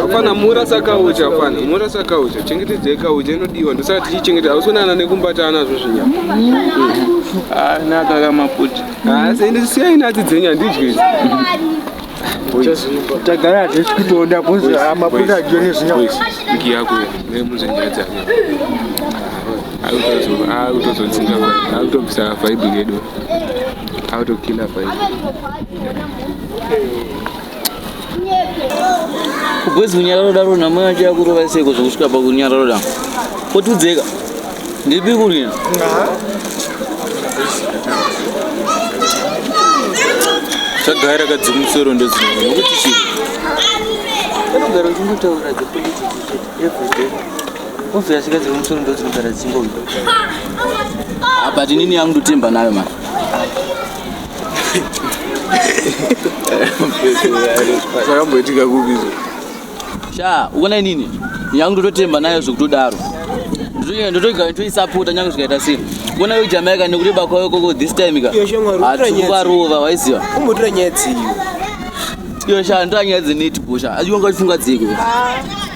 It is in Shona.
hapana mura sakaucha hapana mura sakaucha chengetedza ikaucha inodiwa ndosaka tichichengeta hausikunana nekumbata anazvo zvinyama anaka kamaputi asi ende siyai natsi dzenyu handidye izi tagara hatisi kutoda bcause maputa adyo nezvinyama iki yako nemunzvenjera dzake akutozodzinga akutobvisa vaibu yedu akutokila vaibu Boys kunyararo daro na mwana acha kurova seko zvokusvika pa kunyararo da. Potudzeka. Ndipi kurina? Tagaira kadzimusoro ndozvino. Nokuti chii? Anogara kungotaura the politics every day. Obvious kazi kumusoro ndozvinogara dzingombe. Ah, but inini yangu ndotemba nayo mani. zvakamboitika kupi izvo sha ukona inini nyangu ndototemba nayo zvekutodaro ndotoisapota nyange zvikaita sei kona yo jamaica nekureba kwayo koko this time ka hatiukarova waiziva umbotora nyaya dziyo iyo sha ndoanyaya dzenetbusha achiwanga chifunga dziko ah.